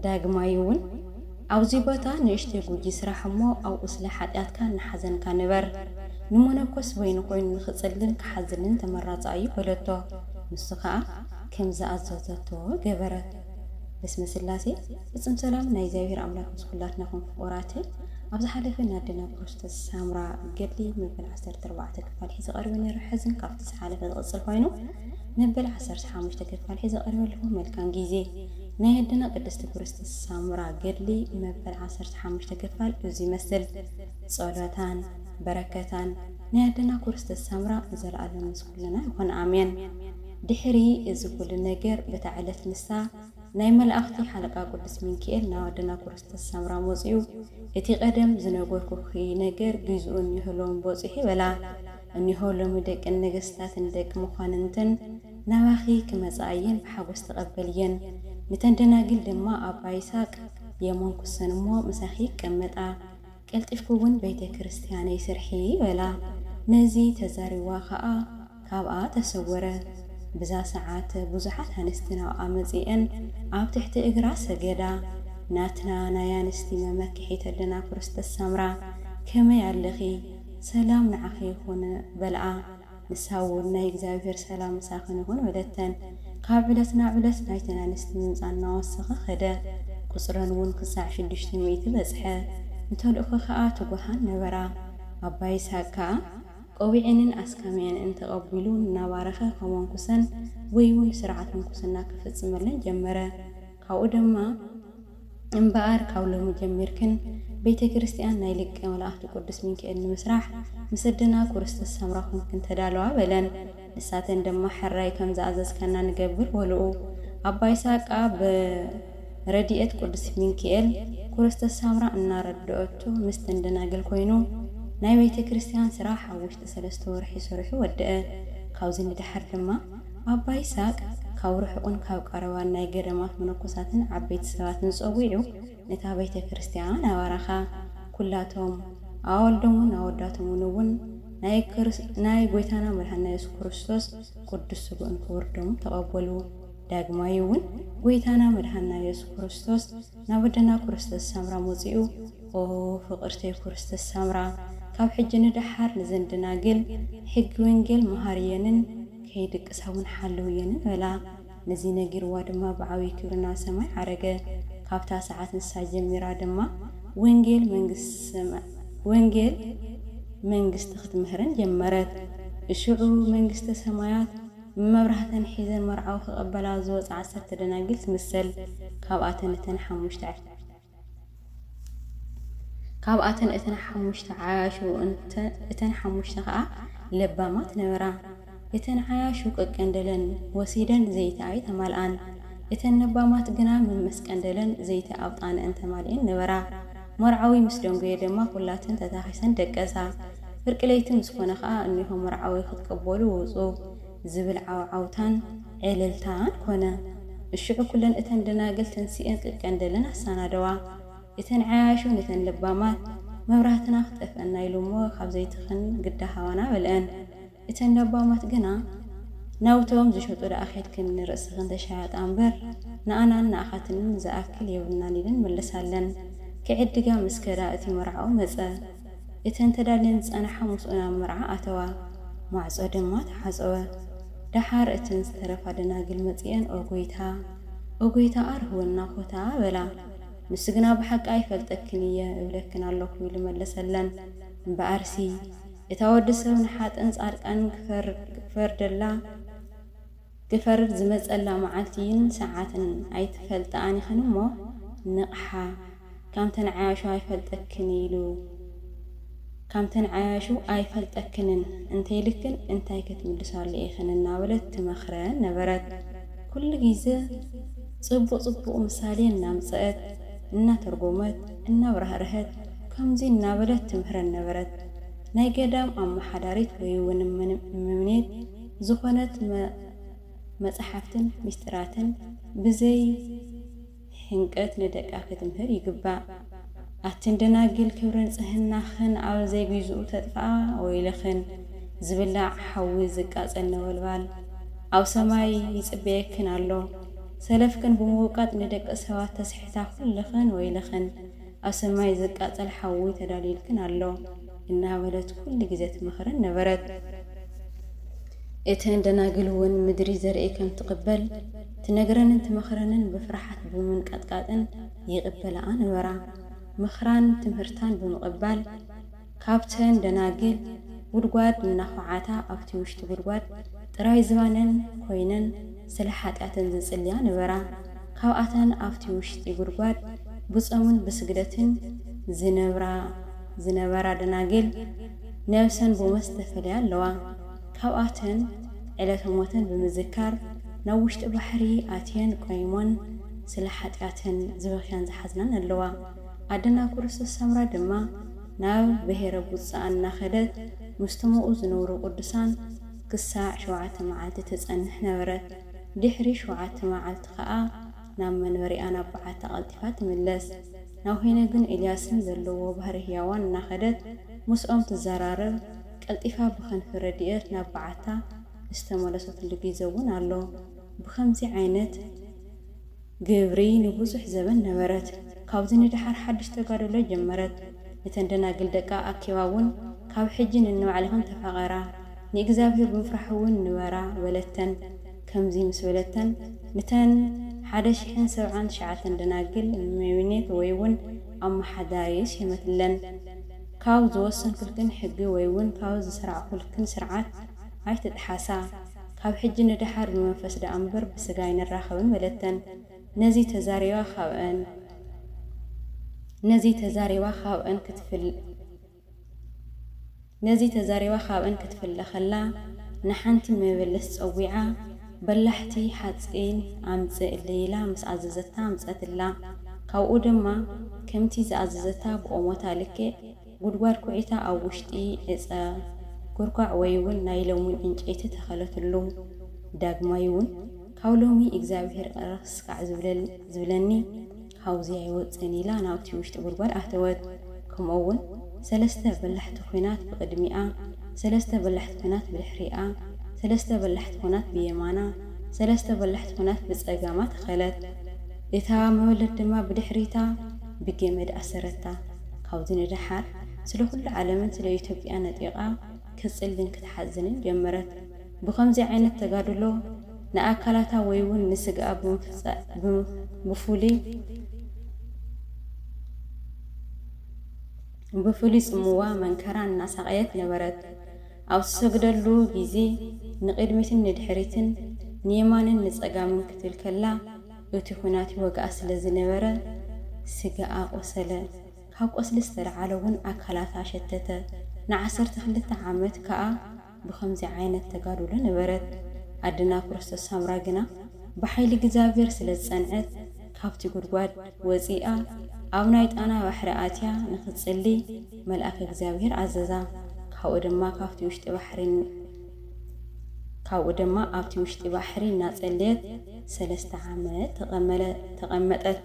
ዳግማይውን ኣብዚ ቦታ ንእሽተይ ጉጂ ስራሕ እሞ ኣብኡ ስለ ሓጢኣትካ እናሓዘንካ ንበር። ንመነኮስ በይኑ ኮይኑ ንኽጽልን ክሓዝንን ተመራጺ ኣዩ በለቶ። ንሱ ከኣ ከም ዝኣዘዘቶ ገበረት። በስመ ስላሴ ፍጽም ሰላም ናይ እግዚኣብሔር ኣምላክ ምስ ኩላትናኹም ፍቁራተይ ኣብ ዝሓለፈ ን ኣደና ክርስቶስ ሳምራ ገድሊ መበል ዓሰርተ ኣርባዕተ ክፋል ሒዘ ቀሪበ ነይረ ሕዝን ካብቲ ዝሓለፈ ዝቅጽል ኮይኑ መበል ዓሰርተ ሓሙሽተ ክፋል ሒዘ ቀሪበ ኣለኹ መልካም ግዜ። ናይ ኣደና ቅድስቲ ኩርስቲ ሳምራ ገድሊ መበል ዓሰርተ ሓሙሽተ ክፋል እዙይ ይመስል ጸሎታን በረከታን ናይ ኣደና ኩርስቲ ሳምራ ንዘለኣለም ምስ ኩልና ይኹን ኣሜን ድሕሪ እዚ ኩሉ ነገር በታ ዕለት ንሳ ናይ መላእኽቲ ሓለቃ ቅዱስ ሚንኪኤል ናብ ኣደና ኩርስቲ ሳምራ መጽኡ እቲ ቀደም ዝነገርኩኪ ነገር ግዝኡን ንህሎን ቦጽሑ በላ እኒሆ ሎሚ ደቂ ነገስታትን ደቂ መኳንንትን ናባኺ ክመፃኣ እየን ብሓጎስ ተቐበልየን። ንተን ደናግል ድማ ኣባ ይስሃቅ የሞንኩሰን እሞ ምሳኺ ይቀመጣ። ቀልጢፍኪ እውን ቤተ ክርስቲያነይ ስርሒ በላ። ነዚ ተዛሪብዋ ኸዓ ካብኣ ተሰወረ። ብዛ ሰዓት ብዙሓት ኣንስቲ ናብኣ መፂኤን ኣብ ትሕቲ እግራ ሰገዳ። ናትና ናይ ኣንስቲ መመክሒት ኣለና ክርስቶስ ሳምራ ከመይ ኣለኺ? ሰላም ንዓኺ ይኹን በልኣ። ንሳ እውን ናይ እግዚኣብሄር ሰላም ምሳኽን ይኹን በለተን። ካብ ዕለት ናብ ዕለት ናይተን ኣንስቲ ምምጻእ እናወሰኸ ኸደ፣ ቍጽረን እውን ኽሳዕ ሽዱሽተ ሚእቲ በጽሐ። ንተልእኾ ኸኣ ትጉሃን ነበራ። ኣባ ይስሃቅ ከኣ። ቆቢዐንን ኣስካሚዐንን ተቐቢሉ እናባረኸ ከመንኵሰን ወይ እውን ስርዓት ምንኵስና ክፍጽመለን ጀመረ። ካብኡ ደማ። እምበኣር ካብ ሎሚ ጀሚርክን ቤተ ክርስቲያን ናይ ሊቀ መላእክት ቅዱስ ሚንካኤል ንምስራሕ ምስ ኣደና ኩርስቲ ሰምራ ኮይንክን ተዳለዋ በለን። ንሳተን ድማ ሕራይ ከም ዝኣዘዝካና ንገብር በልኡ። ኣባ ይስሃቅ ከኣ ብረዲኤት ቅዱስ ሚንካኤል ኩርስቲ ሰምራ እናረደኦቶ ምስተን ደናግል ኮይኑ ናይ ቤተ ክርስቲያን ስራሕ ኣብ ውሽጢ ሰለስተ ወርሒ ሰሪሑ ወደኣ። ካብዚ ንደሓር ድማ ኣባ ይስሃቅ ካብ ርሑቅን ካብ ቀረባን ናይ ገዳማት መነኮሳትን ዓበይቲ ሰባትን ጸዊዑ ነታ ቤተ ክርስቲያን ኣባረኻ። ኩላቶም፣ ኣዋልዶምን ኣወዳቶምን እውን ናይ ናይ ጎይታና መድኃኒና ኢየሱስ ክርስቶስ ቅዱስ ሥግኡን ክቡር ደሙን ተቀበሉ። ዳግማይ እውን ጎይታና መድኃኒና ኢየሱስ ክርስቶስ ናብ ኣደና ኩርስተ ሳምራ መጺኡ ኦ ፍቅርተይ ኩርስተ ሳምራ ካብ ሕጂ ንደሓር ንዘን ደናግል ሕጊ ወንጌል መሃርየንን ከይድቅሳ እውን ሓለውየንን በላ። ነዚ ነጊርዋ ድማ ብዓብዪ ክብሪ ናብ ሰማይ ዓረገ። ካብታ ሰዓት ንሳ ጀሚራ ድማ ወንጌል መንግስቲ ሰማይ ወንጌል መንግስቲ ክትምህርን ጀመረት። እሽዑ መንግስተ ሰማያት መብራህተን ሒዘን መርዓዊ ክቐበላ ዝወጻ ዓሰርተ ደናግል ትምሰል። ካብኣተን እተን ሓሙሽተ። ካብኣተን እተን ሓሙሽተ ዓያሹ እንተ እተን ሓሙሽተ ከኣ ለባማት ነበራ። እተን ዓያሹ ቀቀንደለን ወሲደን ዘይቲ ኣይተማልኣን። እተን ነባማት ግና መመስቀንደለን ዘይቲ ኣብጣነእን ተማሊኤን ነበራ። መርዓዊ ምስ ደንጎየ ደማ ኩላተን ተታኺሰን ደቀሳ። ፍርቂ ለይቲ ምስ ኮነ ከኣ እኔሆ መርዓዊ ክትቀበሉ ውጹ። ዝብል ዓውዓውታን ዕልልታን ኮነ። እሽዑ ኩለን እተን ደናግል ተንሲኤን ክቀንደለን ኣሳናደዋ። እተን ዓያሹ ንተን ለባማት፣ መብራህትና ክጠፍኣና ኢሉ እሞ ካብ ዘይትኽን ግዳ ሃባና በልኣን። እተን ለባማት ግና፣ ናውቶም ዝሸጡ ደኣ ኬድክን ንርእስኽን ተሻየጣ እምበር፣ ንኣናን ንኣኻትንን ዝኣክል የብልናን ኢለን መለሳለን። ክዕድጋ ምስ ከዳ እቲ መርዓኡ መጸ። እተን ተዳልየን ዝጸናሓ ምስኡ ናብ መርዓ ኣተዋ፣ ማዕጾ ድማ ተሓጸወ። ደሓር እተን ዝተረፋ ደናግል መጺኤን ኦ ጐይታ! ኦ ጐይታ! ኣርህወና ዀታ! በላ። ንሱ ግና ብሓቂ ኣይፈልጠክን እየ እብለክን ኣሎኹ ኢሉ መለሰለን። እምበኣርሲ፣ እታ ወዲ ሰብ ንሓጥእን ጻድቃንን ክፈርደላ፣ ክፈርድ ዝመጸላ መዓልቲን ሰዓትን ኣይትፈልጥኣን ኢኽን እሞ ንቕሓ ካምተን ዓያሹ ኣይፈልጠክን ኢሉ ካምተን ዓያሹ ኣይፈልጠክንን እንተኢልክን እንታይ ክትምልሳሉ ኢኽን እናበለት ትመኽረን ነበረት። ኩሉ ግዘ ጽቡቕ ጽቡቕ ምሳሌ እናምጸእት እናተርጎመት እናብራህረሀት ከምዚ እናበለት ትምህረን ነበረት ናይ ገዳም ኣማሓዳሪት ወይውን እመምኔት፣ ዝኾነት መጽሓፍትን ምስጢራትን ብዘይ ሕንቀት ንደቃ ክትምህር ይግባእ። ኣትን ደናግል ክብሪ ንጽህናኽን ኣብ ዘይጊዝኡ ተጥፍኣ ወይለኽን ዝብላዕ ሓዊ ዝቃጸል ነበልባል ኣብ ሰማይ ይጽበየክን ኣሎ። ሰለፍክን ብምውቃጥ ንደቂ ሰባት ተስሕታ ኩልኽን ወይለኽን። ኣሰማይ ዝቃጸል ሓዊ ተዳልዩልክን ኣሎ እናበለት ኩሉ ግዜ ትመኽረን ነበረት። እተን ደናግል እውን ምድሪ ዘርኢ ከም ትቕበል ትነግረንን ትመኽረንን ብፍርሓት ብምንቃጥቃጥን ይቕበላኣ ነበራ። ምኽራን ትምህርታን ብምቕባል፣ ካብተን ደናግል ጉድጓድ እናዃዓታ ኣብቲ ውሽጢ ጉድጓድ ጥራይ ዝባነን ኮይነን ስለ ሓጢኣተን ዝጽልያ ነበራ። ካብኣተን ኣብቲ ውሽጢ ጉድጓድ ብጾምን ብስግደትን ዝነብራ ዝነበራ ደናግል ነብሰን ብሞት ዝተፈልያ ኣለዋ። ካብኣተን ዕለተ ሞተን ብምዝካር ናብ ውሽጢ ባሕሪ ኣትየን ቆይሞን ስለ ሓጢኣተን ዝበኽያን ዝሓዝናን ኣለዋ። ኣደና ኩርስስ ሰምራ ድማ ናብ ብሔረ ቡጻ እናኸደት ምስተምኡ ዝነብሩ ቅዱሳን ክሳዕ ሸውዓተ መዓልቲ ትጸንሕ ነበረት። ድሕሪ ሸውዓተ መዓልቲ ኸኣ ናብ መንበሪኣ ናብ በዓታ ቀልጢፋ ትምለስ። ናብ ሄኖግን ኤልያስን ዘለዎ ባህረ ሕያዋን እናኸደት ምስኦም ትዘራረብ፣ ቀልጢፋ ብክንፊ ረድኤት ናብ በዓታ ዝተመለሰትሉ ጊዘ እውን ኣሎ። ብኸምዚ ዓይነት። ግብሪ ንብዙሕ ዘበን ነበረት። ካብዚ ንደሓር ሓድሽ ተጋድሎ ጀመረት። ነተን ደናግል ደቃ ኣኪባ እውን፣ ካብ ሕጂ ነንባዕልኽን ተፋቐራ፣ ንእግዚኣብሄር ብምፍራሕ እውን ንበራ፣ በለተን። ከምዚ ምስ በለተን፣ ንተን ሓደ ሽሕን ሰብዓን ትሽዓተን ደናግል ሜምኔት ወይ እውን ኣመሓዳሪ ስየመትለን። ካብ ዝወሰንኩልክን ሕጊ ወይ እውን ካብ ዝሰራዕኩልክን ስርዓት ኣይትጥሓሳ። ካብ ሕጂ ንደሓር ብመንፈስ ደኣ እምበር ብስጋ ኣይንራኸብን በለተን። ነዚ ተዛሪባ ካብኣን ነዚ ተዛሪባ ካብኣን ክትፍለ ነዚ ተዛሪባ ካብኣን ክትፍለ ከላ ንሓንቲ መበለት ጸዊዓ በላሕቲ ሓጺን ኣምጽእለይ ኢላ ምስ ኣዘዘታ ኣምጸትላ። ካብኡ ድማ ከምቲ ዝኣዘዘታ ብኦሞታ ልክዕ። ጉድጓድ ኩዒታ ኣብ ውሽጢ ዕጸ ኩርኳዕ ወይውን ናይ ለሙኝ ዕንጨይቲ ተኸለትሉ። ዳግማይውን ካብ ሎሚ እግዚኣብሄር ቐረኽ ስካዕ ዝብለኒ ካብዙይ ኣይወጽእን ኢላ ናብቲ ውሽጢ ጉድጓድ ኣተወት። ከምኡውን ሰለስተ በላሕቲ ኩናት ብቕድሚኣ፣ ሰለስተ በላሕቲ ኩናት ብድሕሪኣ፣ ሰለስተ በላሕቲ ኩናት ብየማና፣ ሰለስተ በላሕቲ ኩናት ብጸጋማ ተኸለት። እታ መበለት ድማ ብድሕሪታ ብገመድ ኣሰረታ። ካብዚ ንደሓር ስለ ኩሉ ዓለምን ስለ ኢትዮጵያን ነጢቓ ክትጽልን ክትሓዝንን ጀመረት። ብኸምዚ ዓይነት ተጋድሎ ንኣካላታ ወይ'ውን ንስግኣ ብፍሉይ ጽምዋ መንከራ እናሳቐየት ነበረት። ኣብ ትሰግደሉ ግዜ ንቕድሚትን ንድሕሪትን ንየማንን ንጸጋምን ክትብል ከላ፣ እቲ ዅናት ይወግኣ ስለ ዝነበረ፣ ስጋኣ ቈሰለ። ካብ ቈስሊ ዝተለዓለ እውን ኣካላታ ሸተተ። ንዓሰርተ ክልተ ዓመት ከኣ ብኸምዚ ዓይነት ተጋድሎ ነበረት። ኣደና ክርስቶስ ሳምራ ግና ብሓይሊ እግዚኣብሄር ስለ ዝጸንዐት፣ ካብቲ ጕድጓድ ወጺኣ ኣብ ናይ ጣና ባሕሪ ኣትያ ንኽትጽሊ መልኣከ እግዚኣብሄር ኣዘዛ። ካብኡ ድማ ካብቲ ውሽጢ ባሕሪ። ካብኡ ድማ ኣብቲ ውሽጢ ባሕሪ እናጸለየት ሰለስተ ዓመት ተቐመጠት።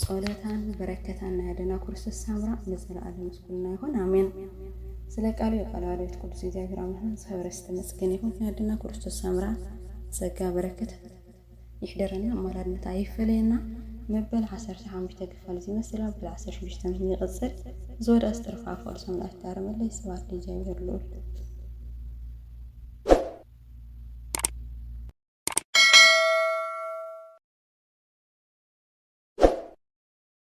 ጸሎታን በረከታን ናይ ኣደና ኩርስቶስ ሳምራ ንዘለኣለም ምስ ኩልና ይኹን ኣሜን። ስለ ቃሉ ቃለ ኣልዮት ቅዱስ እግዚኣብሔር ኣምላክና ዝከበረ ዝተመስገነ ይኹን ናይ ኣደና ኩርስቶስ ሳምራ ጸጋ በረከት ይሕደረና ኣማላድነት ኣይፈለየና መበል ዓሰርተ ሓሙሽተ ክፋል እዚ ይመስል መበል ዓሰርተ ሽዱሽተ ይቕጽል ዝወደኣስ ጥርፊ ኣፍ ቅዱስ ኣምላክ ይታረመለይ ስብሐት ለእግዚኣብሔር ልዑል